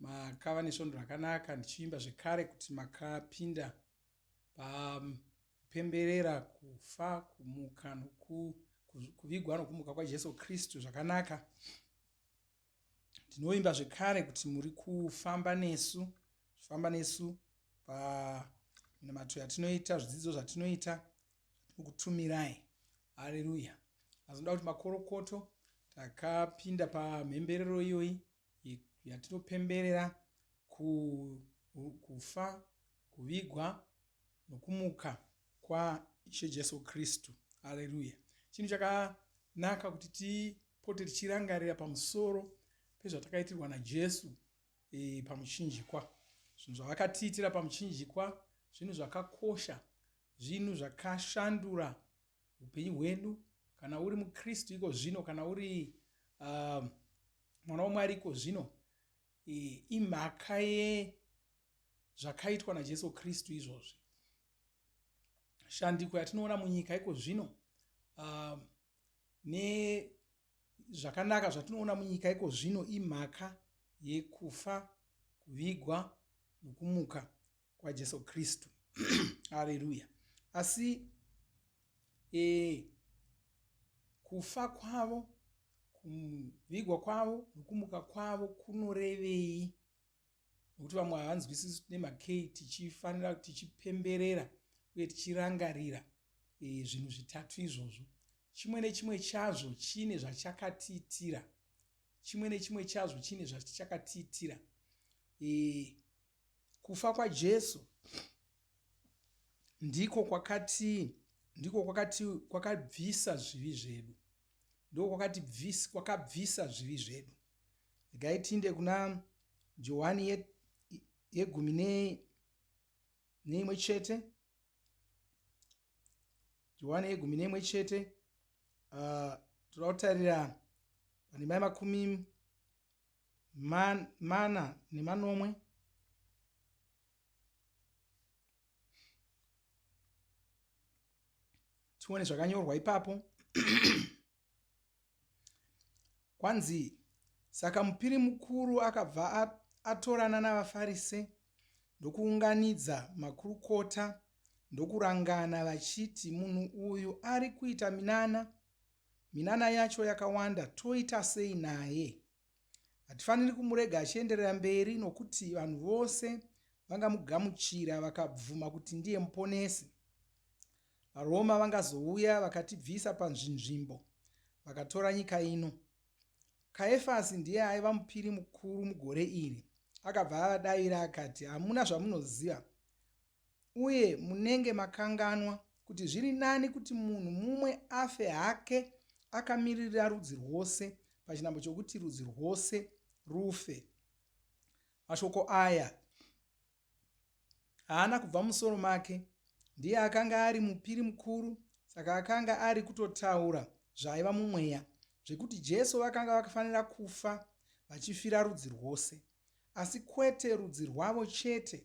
Makava nesvondo rakanaka ndichivimba zvekare kuti makapinda papemberera kufa kumuka nokuvigwa nokumuka kwaJesu Kristu zvakanaka. Ndinovimba zvekare kuti muri kufamba nesu zvifamba nesu paminamato yatinoita zvidzidzo zvatinoita zvatinokutumirai hareruya azoda kuti makorokoto takapinda pamhemberero iyoyi yatinopemberera kufa, kuvigwa nokumuka kwaIshe Jesu Kristu. Aleluya! Chinhu chakanaka kuti tipote tichirangarira pamusoro pezvatakaitirwa naJesu e, pamuchinjikwa. Zvinhu zvavakatiitira pamuchinjikwa zvinhu zvakakosha, zvinhu zvakashandura upenyu hwedu kana uri mukristu iko zvino kana uri uh, mwana wamwari iko zvino imhaka yezvakaitwa najesu kristu izvozvi shandiko yatinoona munyika iko zvino uh, nezvakanaka zvatinoona munyika iko zvino imhaka yekufa kuvigwa nokumuka kwajesu kristu areruya asi e, kufa kwavo kuvigwa kwavo nokumuka kwavo kunorevei nokuti vamwe havanzwisisi nemakei tichifanira tichipemberera uye tichirangarira e, zvinhu zvitatu izvozvo chimwe nechimwe chazvo chine zvachakatiitira chimwe nechimwe chazvo chine zvachakatiitira e, Kufa kwaJesu ndiko kwakatii? Ndiko kwakati kwakabvisa zvivi zvedu, ndiko kwakati bvisa, kwakabvisa zvivi zvedu. Regai tiinde kuna Johani ye, yegumi ne, neimwe chete. Johani yegumi neimwe chete uh, toda kutarira pandima yemakumi man, mana nemanomwe tione zvakanyorwa ipapo kwanzi saka mupiri mukuru akabva atorana navafarise ndokuunganidza makurukota ndokurangana vachiti munhu uyu ari kuita minana Minana yacho yakawanda toita sei naye? Hatifaniri kumurega achienderera mberi nokuti vanhu vose vangamugamuchira vakabvuma kuti ndiye muponesi. VaRoma vangazouya vakatibvisa panzvinzvimbo vakatora nyika ino. Kaefasi ndiye aiva mupiri mukuru mugore iri. Akabva avadavira akati, Hamuna zvamunoziva. uye munenge makanganwa kuti zviri nani kuti munhu mumwe afe hake akamiririra rudzi rwose pachinambo chokuti rudzi rwose rufe mashoko aya haana kubva musoro make ndiye akanga ari mupiri mukuru saka akanga ari kutotaura zvaiva mumweya zvekuti jesu vakanga vakafanira kufa vachifira rudzi rwose asi kwete rudzi rwavo chete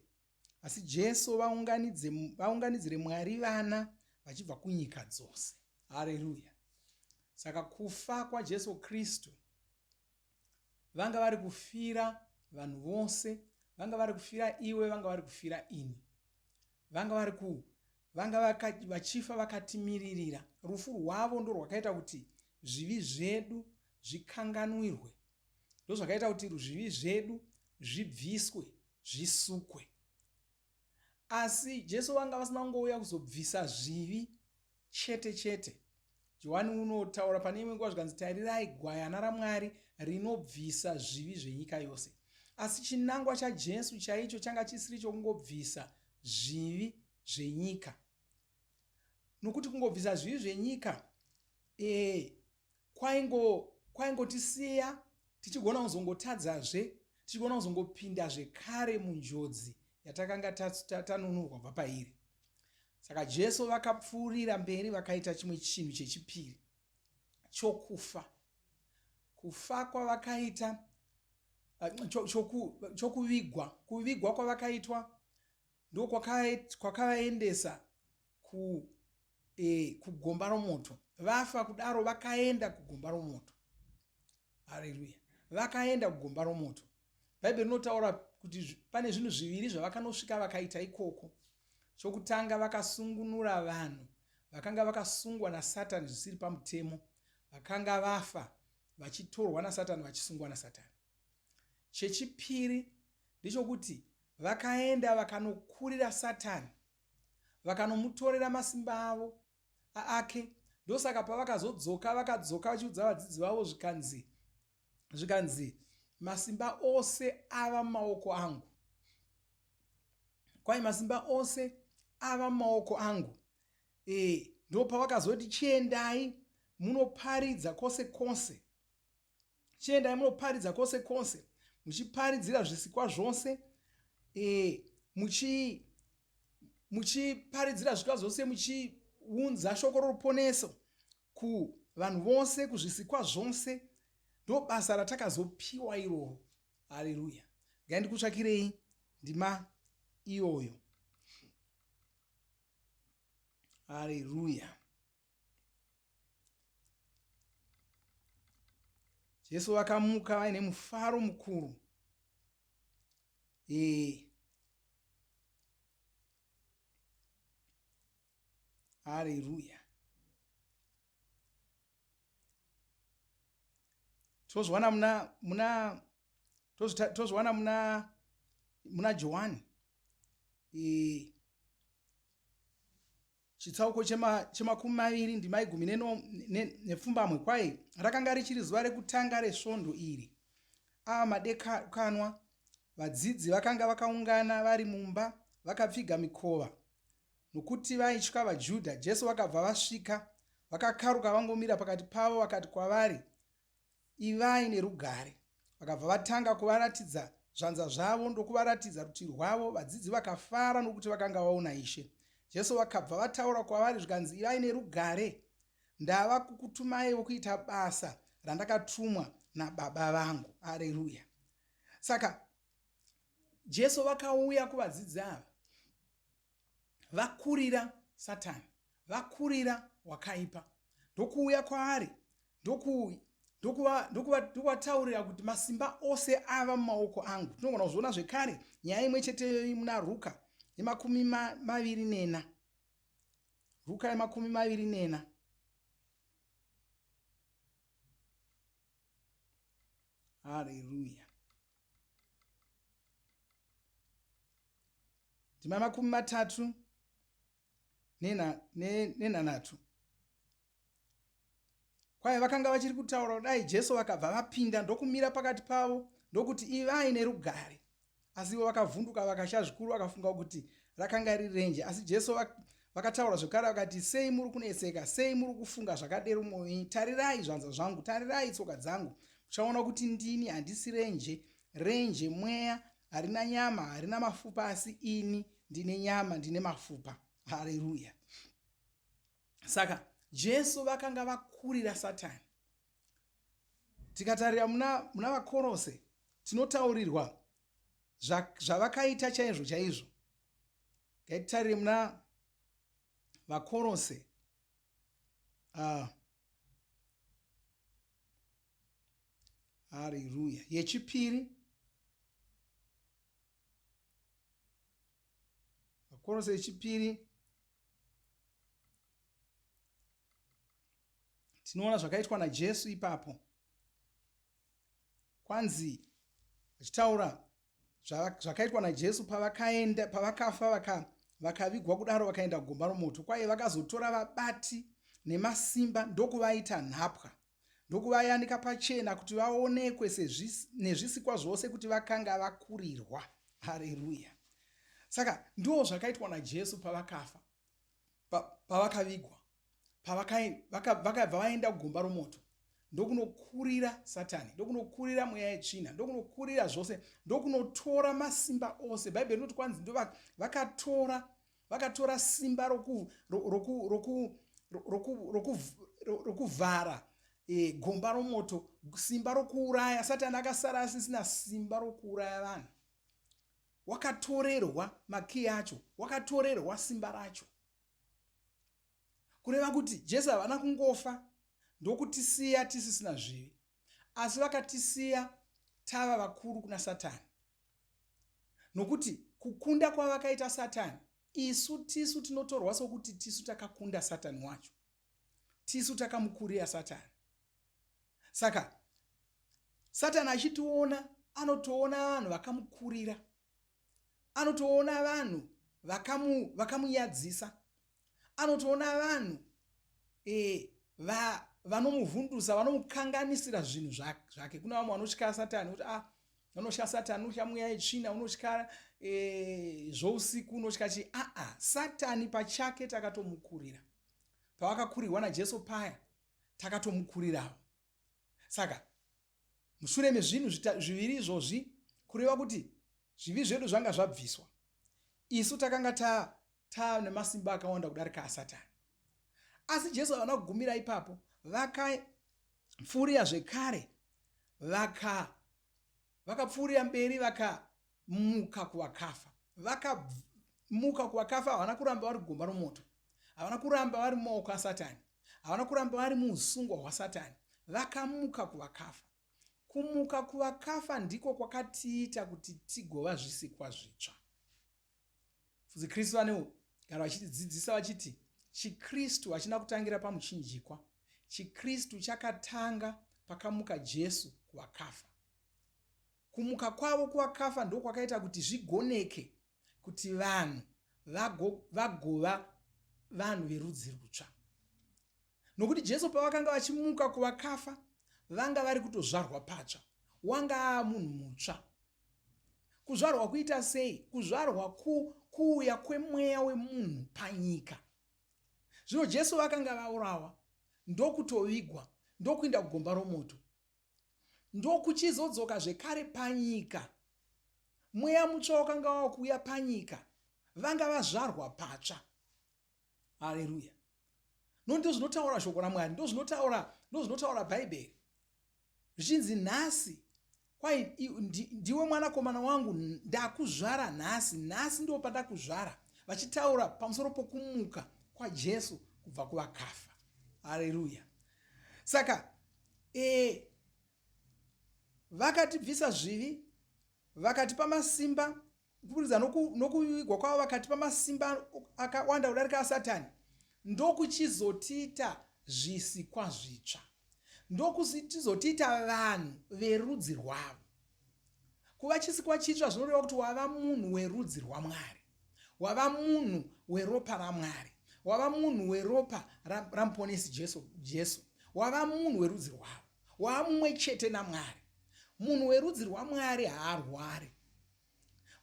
asi jesu vaunganidzire mwari vana vachibva kunyika dzose hareruya saka kufa kwajesu kristu vanga vari kufira vanhu vose vanga vari kufira iwe vanga vari kufira ini vanga vari ku vanga vachifa vakatimiririra rufu rwavo ndo rwakaita kuti zvivi zvedu zvikanganwirwe ndozvakaita kuti zvivi zvedu zvibviswe zvisukwe. Asi Jesu vanga vasina kungouya kuzobvisa zvivi chete chete. Johani unotaura pane imwe nguva zvikanzi, Tarirai gwayana raMwari rinobvisa zvivi zvenyika yose. Asi chinangwa chaJesu chaicho changa chisiri chokungobvisa zvivi zvenyika, nokuti kungobvisa zvivi zvenyika ee kwaingo kwaingotisiya tichigona kuzongotadzazve tichigona kuzongopinda zvekare munjodzi yatakanga tanunurwa bva pairi saka jesu vakapfuurira mberi vakaita chimwe chinhu chechipiri chokufa kufa kwavakaita chokuvigwa kuvigwa kwavakaitwa ndokwakavaendesa ku e, kugomba romoto vafa kudaro vakaenda kugomba romoto hareruya vakaenda kugomba romoto bhaibheri rinotaura kuti pane zvinhu zviviri zvavakanosvika vakaita ikoko chokutanga vakasungunura vanhu vakanga vakasungwa nasatani zvisiri pamutemo vakanga vafa vachitorwa nasatani vachisungwa nasatani Chechipiri ndechokuti vakaenda vakanokurira Satani vakanomutorera masimba avo aake ndosaka pavakazodzoka vakadzoka vachiudza vadzidzi vavo zvikanzi zvikanzi masimba ose ava mumaoko angu kwai masimba ose ava mumaoko angu e, ndopavakazoti chiendai munoparidza kwose kwose chiendai munoparidza kwose kwose muchiparidzira zvisikwa zvose e, muchi muchiparidzira zvisikwa zvose muchiunza shoko roruponeso kuvanhu vose kuzvisikwa zvose ndo basa ratakazopiwa iroro haleluya ngai ndikutsvakirei ndima iyoyo haleluya jesu vakamuka vaine mufaro mukuru ee hareruya tozviwana muna muna tozviwana muna muna johani ee chitsauko chemakumi maviri ndimai gumi nepfumbamwe kwaye rakanga richiri zuva rekutanga resvondo iri ava madekanwa vadzidzi vakanga vakaungana vari mumba vakapfiga mikova nokuti vaitya vajudha jesu vakabva vasvika vakakaruka vangomira pakati pavo vakati kwavari Ivai nerugare. Vakabva vatanga kuvaratidza zvanza zvavo ndokuvaratidza rutivi rwavo. Vadzidzi vakafara nokuti vakanga vaona Ishe. Jesu vakabva vataura kwavari zvikanzi, Ivai nerugare. Ndava kukutumai vokuita basa randakatumwa naBaba vangu. Areruya. Saka Jesu vakauya kuvadzidzi ava vakurira satani vakurira wakaipa ndokuuya kwaari ndokuvataurira kuti masimba ose ava mumaoko angu tinogona kuzviona zvekare nyaya imwe cheteyo muna ruka yemakumi maviri nena ruka yemakumi maviri nena haleluya ndima makumi matatu nenhanhatu ne, kwaye vakanga vachiri kutaura kudai jesu vakabva vapinda ndokumira pakati pavo ndokuti ivai nerugare asi ivo vakavhunduka vakasha zvikuru vakafunga kuti rakanga riri renje asi jesu Vakataura zvekare vakati, Sei muri kuneseka? Sei muri kufunga zvakadero mwoyo yenyu? Tarirai zvanza zvangu, tarirai tsoka dzangu, muchaona kuti ndini, handisi renje. Renje mweya, harina nyama, harina mafupa, asi ini ndine nyama, ndine mafupa. Hareruya! Saka Jesu vakanga vakurira Satani. Tikatarira muna, muna Vakorose, tinotaurirwa zvavakaita chaizvo chaizvo Ngatitarire muna vakorose ah. hariruya yechipiri vakorose yechipiri tinoona zvakaitwa najesu ipapo kwanzi achitaura zvakaitwa najesu pavakaenda pavakafa vaka vakavigwa kudaro vakaenda gomba romoto kwaye vakazotora vabati nemasimba ndokuvaita nhapwa ndokuvayanika pachena kuti vaonekwe nezvisikwa zvose kuti vakanga vakurirwa hareruya saka ndiwo zvakaitwa najesu pavakafa pavakavigwa pavakabva vaenda kugomba romoto ndokunokurira satani ndokunokurira mweya yetsvina ndokunokurira zvose ndokunotora masimba ose bhaibheri rinoti kwanzi ndovakatora vakatora simba rokuvhara e, gomba romoto simba rokuuraya satani akasara asisina simba rokuuraya vanhu wakatorerwa makiyi acho wakatorerwa simba racho kureva kuti jesu havana kungofa ndokutisiya tisisina zvivi asi vakatisiya tava vakuru kuna satani nokuti kukunda kwavakaita satani isu tisu tinotorwa sokuti tisu takakunda satani wacho tisu takamukurira satani saka satani achitiona anotoona vanhu vakamukurira anotoona vanhu vakamu vakamunyadzisa anotoona vanhu e, va, vanomuvhundusa vanomukanganisira zvinhu zvake kune vamwe vanotyaya satani kuti ah unotya satani unotya mweya yetsvina unotya e, zvousiku unotya chii aa satani pachake takatomukurira pavakakurirwa najesu paya takatomukurirawo saka mushure mezvinhu zviviri izvozvi kureva kuti zvivi zvedu zvanga zvabviswa isu takanga ta Taa nemasimba akawanda kudarika aSatani. Asi Jesu havana kugumira ipapo, vakapfuurira zvekare, vaka vakapfuurira mberi, vakamuka kuvakafa. Vakamuka kuvakafa, havana kuramba vari gomba romoto, havana kuramba vari mumaoko aSatani, havana kuramba vari muusungwa hwaSatani, vakamuka kuvakafa. Kumuka kuvakafa ndiko kwakatiita kuti tigova zvisikwa zvitsva. Fudzi Kristu vanewo gara vachitidzidzisa vachiti chiKristu hachina kutangira pamuchinjikwa. ChiKristu chakatanga pakamuka Jesu kuvakafa. Kumuka kwavo kuvakafa ndo kwakaita kuti zvigoneke kuti vanhu vagova vanhu verudzi rutsva. Nokuti Jesu pavakanga vachimuka kuvakafa, vanga vari kutozvarwa patsva, wanga aamunhu mutsva. Kuzvarwa kuita sei? Kuzvarwa ku, kuuya kwemweya wemunhu panyika. Zvino Jesu vakanga vaurawa, ndokutovigwa, ndokuinda kugomba romoto, ndokuchizodzoka zvekare panyika. Mweya mutsva wakanga wava kuuya panyika, vanga vazvarwa patsva. haleluya no ndozvinotaura shoko ramwari ndozvinotaura ndozvinotaura bhaibheri zvichinzi nhasi kwai ndiwe mwanakomana wangu ndakuzvara nhasi nhasi ndo pandakuzvara vachitaura pamusoro pokumuka kwajesu kubva kuvakafa haleluya saka e, vakatibvisa zvivi vakatipa masimba kuburikidza nokuvigwa kwavo vakati pamasimba akawanda kudarika asatani ndokuchizotiita zvisikwa zvitsva ndokuchizotiita vanhu verudzi rwavo kuva chisikwa chitsva zvinoreva kuti wava munhu werudzi rwamwari wava munhu weropa ramwari wava munhu weropa ramuponesi jesu jesu wava munhu werudzi rwavo wava mumwe chete namwari munhu werudzi rwamwari haarwari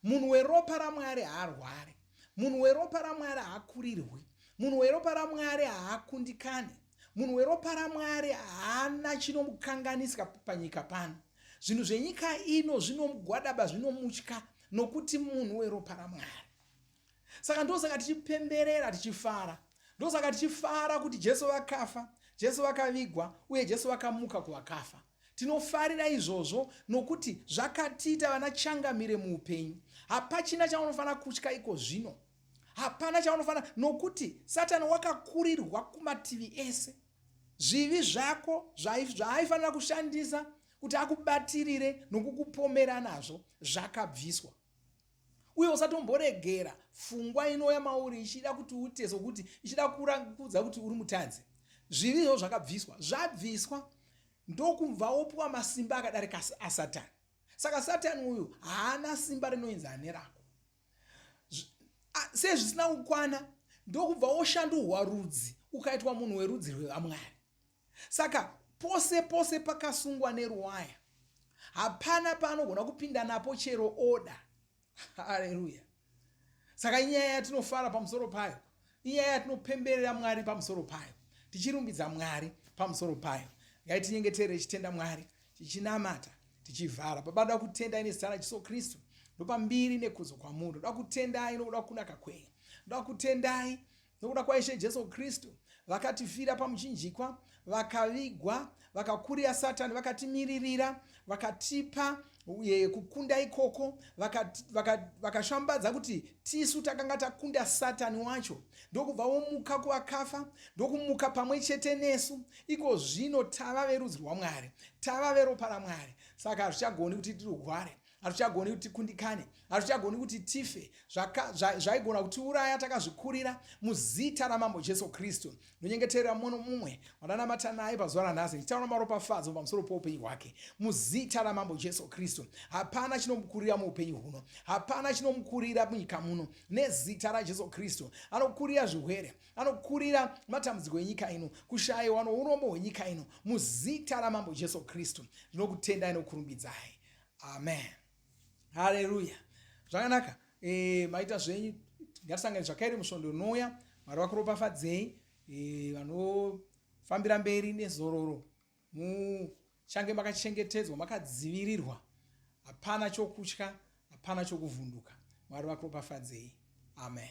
munhu weropa ramwari haarwari munhu weropa ramwari haakurirwi munhu weropa ramwari haakundikani munhu weropa ramwari haana chinomukanganisika panyika pano zvinhu zvenyika ino zvinomugwadaba zvinomutya nokuti munhu weropa ramwari saka ndosaka tichipemberera tichifara ndosaka tichifara kuti jesu vakafa jesu vakavigwa uye jesu vakamuka kuvakafa Tinofarira izvozvo nokuti zvakatiita vana changamire muupenyu. Hapachina chaunofanira kutya iko zvino. Hapana chaunofanira nokuti Satani wakakurirwa kumativi ese. Zvivi zvako zvaaifanira kushandisa kuti akubatirire nokukupomera nazvo zvakabviswa. uye usatomboregera fungwa inouya mauri ichida kuti uite sokuti ichida kuudza kuti uri mutadzi zvivi izvo zvakabviswa zvabviswa ndokubva wopiwa masimba akadarika asatani saka satani uyu haana simba rinoinzi ane rako sezvisina kukwana ndokubva woshanduhwa rudzi ukaitwa munhu werudzi rwevamwari Saka pose pose pakasungwa neruwaya hapana paanogona kupinda napo chero oda. Haleluya! Saka inyaya yatinofara pamusoro payo, inyaya yatinopemberera Mwari pamusoro payo, tichirumbidza Mwari pamusoro payo. Ngai tinyengetere tichitenda Mwari, tichinamata, tichivhara. Baba, ndoda kutenda ine zita raJesu Kristu, ndopa mbiri nekudzo kwamuri. Ndoda kutendai nokuda kunaka kwenyu, ndoda kutendai nokuda kwaishe jesu kristu vakatifira pamuchinjikwa vakavigwa vakakurira satani vakatimiririra vakatipa uye kukunda ikoko vakashambadza vaka, vaka kuti tisu takanga takunda satani wacho ndokubva womuka kuvakafa ndokumuka pamwe chete nesu iko zvino tava verudzi rwamwari tava veropa ramwari saka hazvichagoni kuti tirware hatichagoni kuti tikundikane hatichagoni kuti tife zvaigona zva, kutiuraya takazvikurira muzita ramambo jesu kristu ndonyengeterera mumwe nomumwe wandanamata naye pazuva ranhasi ndichitaura maropafadzo pamusoro poupenyu hwake muzita ramambo jesu kristu hapana chinomukurira muupenyu huno hapana chinomukurira munyika muno nezita rajesu kristu anokurira zvirwere anokurira matambudziko enyika ino kushayiwa nourombo hwenyika ino muzita ramambo jesu kristu ndinokutendai nokurumbidzai amen haleluya zvakanaka e, maita zvenyu ngatisangane zvakairi musvondo unouya mwari vakuropafadzei e, vanofambira mberi nezororo muchange makachengetedzwa makadzivirirwa hapana chokutya hapana chokuvhunduka mwari vakuropafadzei amen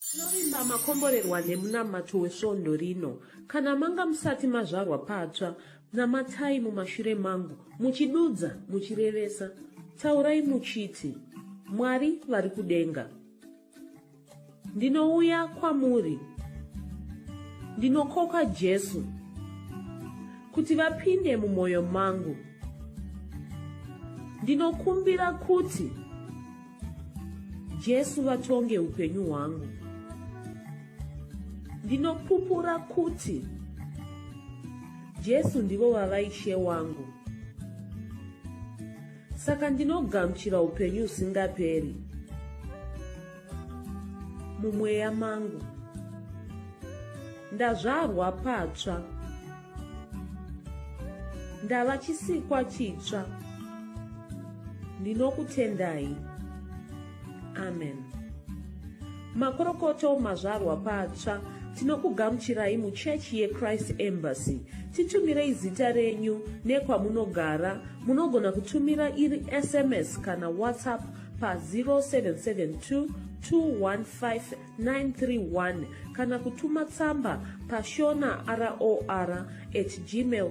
Tinovimba makomborerwa nemunamato wesvondo rino. Kana manga musati mazvarwa patsva, namatai mumashure mangu, muchidudza, muchirevesa. Taurai muchiti, Mwari vari kudenga. Ndinouya kwamuri. Ndinokoka Jesu kuti vapinde mumwoyo mangu. Ndinokumbira kuti Jesu vatonge upenyu hwangu. Ndinopupura kuti Jesu ndivo vava ishe wangu. Saka ndinogamuchira upenyu usingaperi mumweya mangu. Ndazvarwa patsva. ndava chisikwa chitsva ndinokutendai amen makorokoto mazvarwa patsva tinokugamuchirai muchechi yechrist embassy titumirei zita renyu nekwamunogara munogona kutumira iri sms kana whatsapp pa 0772 215 931 kana kutuma tsamba pashona ror at gmail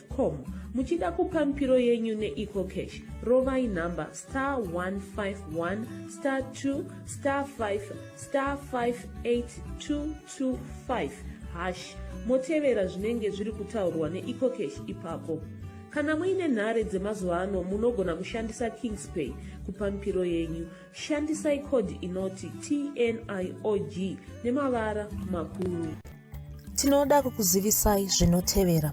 com muchida kupa mipiro yenyu neecocash rovai nhamba star 151 star 2 star 5 star 58225 hash motevera zvinenge zviri kutaurwa neecocash ipapo kana muine nhare dzemazuva ano munogona kushandisa kingspay kupa mipiro yenyu Shandisai code inoti TNIOG nemavara makuru. Tinoda kukuzivisai zvinotevera.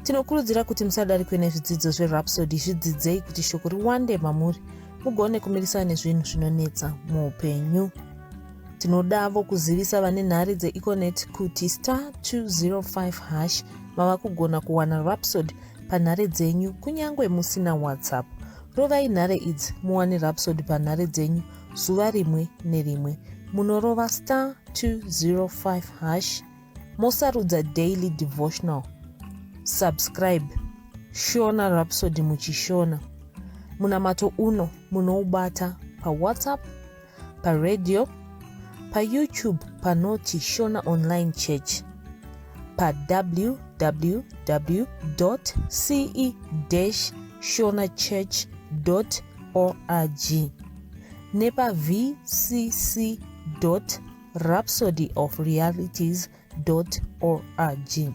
Tinokurudzira kuti musadarikwe nezvidzidzo zveRhapsody zvidzidzei kuti shoko riwande mamuri mugone kumirisana nezvinhu zvinonetsa muupenyu. Tinodavo kuzivisa vane nhare dzeEconet kuti star 205 hash mava kugona kuwana Rhapsody panhare dzenyu kunyange musina WhatsApp. Rovai nhare idzi muwane Rhapsody panhare dzenyu zuva rimwe nerimwe. Munorova star 205 hash mosarudza daily devotional. Subscribe Shona Rhapsody muchishona. Munamato uno munoubata paWhatsApp paradio, paYoutube panoti Shona Online Church, pawww.ce-shonachurch.org nepaVCC.org. Rhapsody of Realities org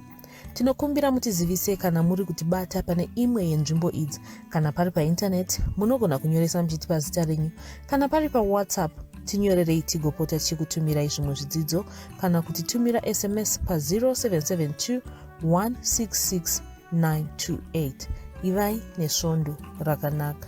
tinokumbira mutizivise kana muri kutibata pane imwe yenzvimbo idzi kana pari paintaneti munogona kunyoresa muchitipa zita renyu kana pari pawhatsapp tinyorerei tigopota tichikutumirai zvimwe zvidzidzo kana kuti tumira sms pa0772 166 928 ivai nesvondo rakanaka